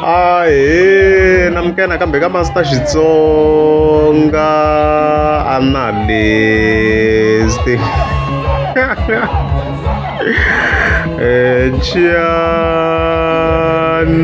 ahe na mukena kambe ka masta xitsonga analyst Chian,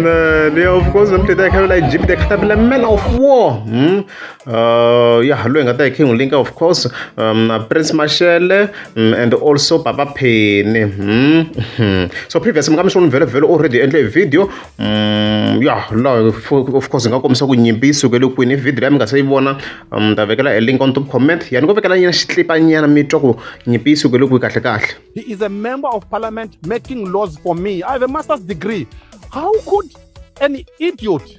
eh, of course, I'm the Egypt, the capital man of war. Hmm? Uh, ya loyi hi nga ta hi king linka of course um, prince mashele um, and also papa pheni mm -hmm. so previous mi nga mi swi vhele vhele already endle hi video um, ya laha of course hi nga kombisa ku nyimpi yi sukele kwini hi video leyi mi nga se yi vona um, ta vekela a link on top comment ya ni ko vekela nyana xitlipanyana mi twa ku nyimpi yi sukele kwi kahle kahle he is a member of parliament making laws for me i have a master's degree how could An idiot.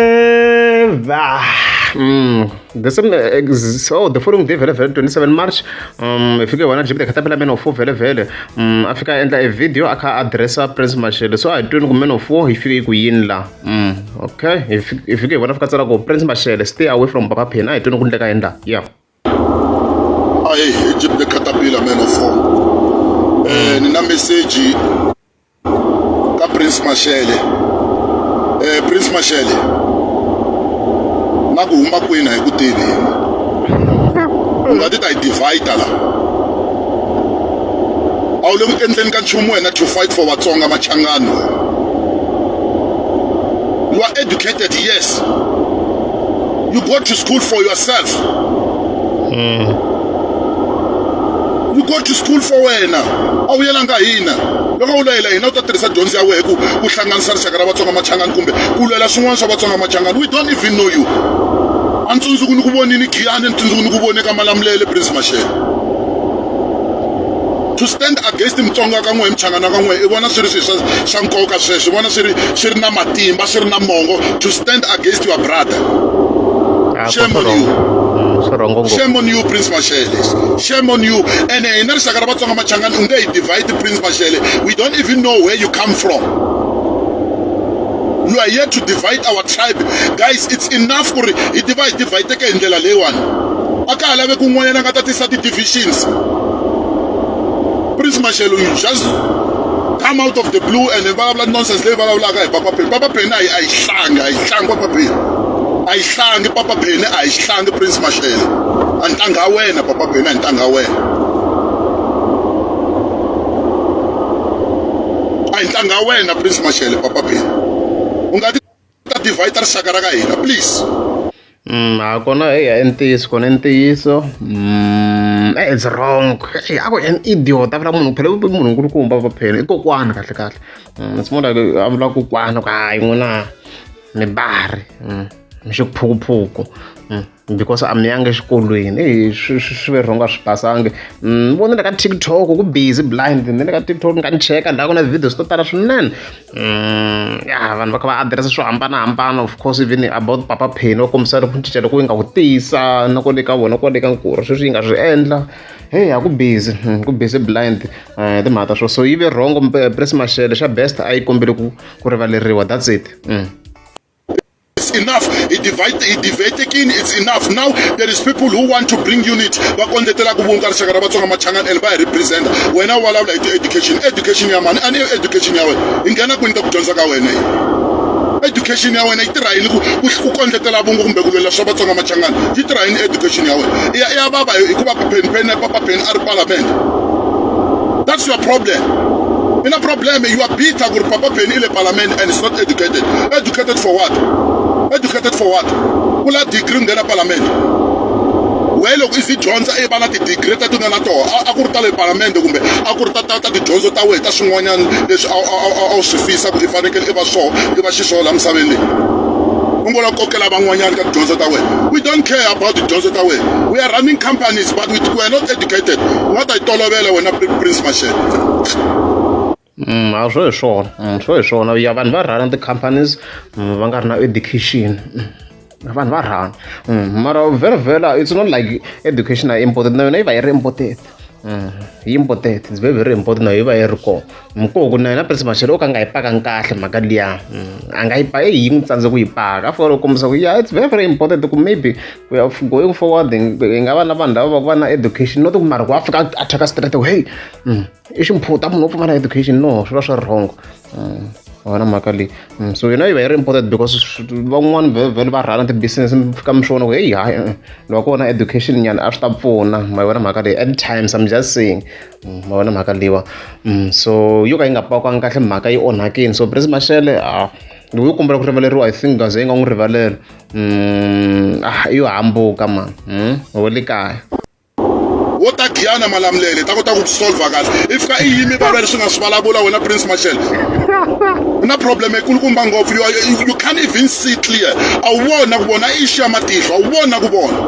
However, mm, the same, uh, so the following day vele vele 27 march um ifike wena jibile khatapela men of 4 vele vele um afika endla a video akha addressa prince mashele so i don't men of 4 ifike ku yini la mm okay ifike wena fika tsala ko prince mashele stay away from papa phina i don't ku ndleka endla yeah Hey, Egypt the caterpillar man of all. Eh, nina message ka Prince Mashele. Eh, Prince Mashele. Na ku huma kwini hi ku tivi. Nga ti ta yi divider la. A wu le ku endleni ka nchumu wena to fight for Vatsonga machangani. You are educated, yes. You go to school for yourself. Mm. You go to school for wena. A wu yelanga hina. Loko u layela hina u ta tirhisa dyondzo ya wena ku ku hlanganisa rixaka ra Vatsonga Machangani kumbe ku lwela swin'wana swa Vatsonga Machangani. We don't even know you. A ni tsundzuku ni ku vonini Giyani, ni tsundzuku ni ku vone ka Malamulele Prince Mashele. to stand against mutsonga ka n'we hi muchangana ka n'we i vona swi ri swilo swa swa nkoka sweswi vona swi ri swi ri na matimba swi ri na mongo to stand against your brother ah, shame on you mm, shame on you prince mashele shame on you ene hina rixaka ra vatsonga machangani u nge hi divide prince mashele we don't even know where you come from you are here to divide our tribe guys it's enough ku ri hi tiva hi divhayiteke hi ndlela leyiwani a ka ha lave kun'wanyana nga ta tisa ti-divisions Prince Mashelo, you just come out of the blue and then vulavula nonsense leyi vulavulaka hi papa pheni papa pheni a yi a yi hlangi a yi hlangi papa pheni a yi hlangi papa pheni a yi hlangi prince maxele a ntanga wena papa pheni a ntanga wena a yi ntanga wena prince maxele papa pheni u nga ti ta divide ta rixaka ra ka hina please Mm, ha kona eya i ntiyiso kona i ntiyiso mm, eh, it's wrong Eh, ako an idiot a vula munhu phela i munhu nkulukumba va phela i kokwana kahle kahle Mm, it's more like a vula kokwana ku hayi n'wina mi bari Mm, mi xiphukuphuku Mm. because a mi yangi exikolweni i swirhongo a swi pasangi ni mm, vone le ka tiktok ku busy blind ni le ka tiktok ni nga ni cheka ndhaku na videos to tala swinene mm, ya vanhu va kha va adirese swo hambanahambana of course even about papa pheni va kombisa ku cinca loko yi nga ku tiyisa na ko le ka vona kwale ka nkuru sweswi yi nga swi endla heyi a ku busy hmm, ku busy blind eh, timhaka ta swo so yi ve rhongo press mashele xa best a yi kombele ku ku rivaleriwa that's it mm. it's enough idivatekini it's enough now there is people who want to bring unit va kondletela ku vumba rixaka ra vatsonga machangani and va hi representa wena u vulavula hi ti-education education ya mani a ni education ya wena hi nghena kwini ka ku dyondza ka wena yi education ya wena yi tirha yini ku kondletela vungu kumbe ku lwela swa vatsonga machangani yi tirha yini education ya wena i ya vava hikuva papheni pheni papapeni a ri palamende That's your problem. In a problem, you are bitter with Papa Penny in the parliament and it's not educated. Educated for what? Educated for what? Will I degree in the parliament? wehe loko i swi dyondza i va na tidigiri ta tona na toho a ku ri ta le palamende kumbe a ku ri ta ta ta tidyondzo ta wena ta swin'wanyana leswi a wu swi fisa ku i fanekele i va swoho i va xiswoho laha misaveni leyi u ngo la kokela van'wanyana ka tidyondzo ta wena we don't care about tidyondzo ta wena we are running companies but we are not educated u nga ta yi tolovela wena prince mashele Mm, a swo hi swona mm, swo hi swona ya vanhu va rhana ti-companies mm, va nga ri na education mm, vanhu va rhana mm, mara very vela it's not like education a imported na yona yi va yi ri imported mm, yi imported it's very very imported na yi va yi ri kona mukoko na yena prince maxelo o ka nga yi pakanga kahle mhaka liya mm, a nga yi pa eyi yi n'wi tsandze ku yi paka a fika loko kombisa ku ya it's very very important ku maybe we are going forward hi nga va na vanhu lava va ku va na education no ti ku mariko a fika a thyaka straight away hey mm, i ximphuta munhu wo pfumala education no swi va swi ri wrong mm, wona mhaka leyi so yona yi va yi ri important because van'wani vhele va rhana ti-business mi fika mi swi vona ku heyi hayi eh, eh, loko ko na education nyana a swi ta pfuna ma yi vona mhaka leyi at times i'm just saying ma vona mhaka leyiwa so yo ka yi nga pakiwanga kahle mhaka yi onhakile so Prince Mashele ha loyi u kombela ku rivaleriwa i think gaze yi nga n'wi rivalela ah yo hambuka mani hmm? wo le kaya wo ta giyana malamulele ta kota ku solva kahle i fika i yimi vava leswi nga swi vulavula wena prince mashele u na problem ekulukumba ngopfu you can't even see clear a wu vona ku vona i xiya matihlo a wu vona ku vona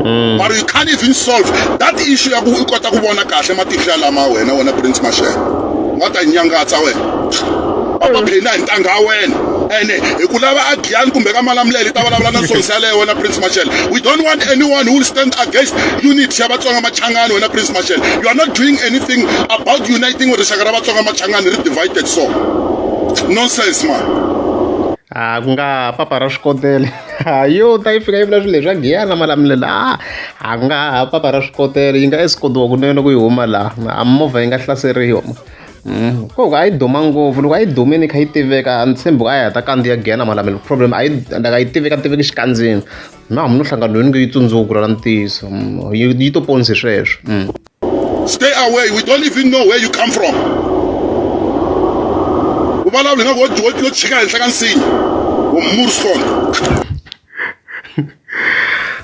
mm. but you can't even solve that issue ya ku u kota ku vona kahle matihlo ya lama wena wena prince mashele wa ta nyangatsa wena va va phina hi ntanga ya wena ene hi ku lava agiyani kumbe ka malamulele ta vulavula na sonsi yaleyo wena prince mashele we don't want anyone who will stand against unity ya vatsonga machangani wena prince mashele you are not doing anything about uniting rixaka ra vatsonga machangani ri divided so nonsense man a ah, ku nga papa ra swikodele ha yo ta yi fika yi vula swilo leswi a giya na malamulela a ah, a nga ha papa ra swikotela yi nga esikotiwa kunene ku yi huma laha a movha yi nga hlaseriwa mm, ko a yi duma ngopfu loko a yi dumini kha yi tiveka a ni tshembi ku a yi heta kandziya giya na malamelo problem a yi like a yi tiveka tiveki xikandzini na hamu no hlanganweni ku yi tsundzuku ra ntiyiso mm, yi to ponisi sweswo mm. stay away we don't even know where you come from u vulavula nga ku wo tshika henhla ka nsinya wo murskond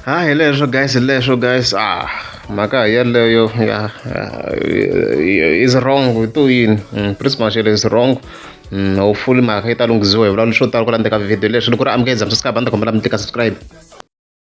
ha hi leswo guys hi leswo guys ah mhaka hi yeleyo ya is wrong hi to yini mm, pretty much it is wrong mm, hopefully mhaka yi ta lunghisiwa hi vulavula swo tala ku landzeka video leswi ni ku ri amukela dzamsasikabandakombela mi tika subscribe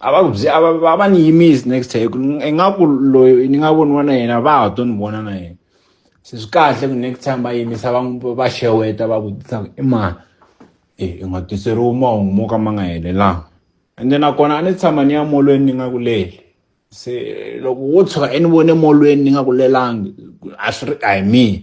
a va byi a va a va ni yimisi next time ku ni nga ku loyi ni nga voniwa na yena va ha to ni vona na yena se swi kahle ku next time va yimisa va n'wi va xeweta va vutisa ku i mani e i nga tiseriwi mahungu mo ka ma nga helelanga ende nakona a ni tshama ni ya molweni ni nga ku leli se loko wo tshuka i ni vone molweni ni nga ku lelangi a swi ri a hi mina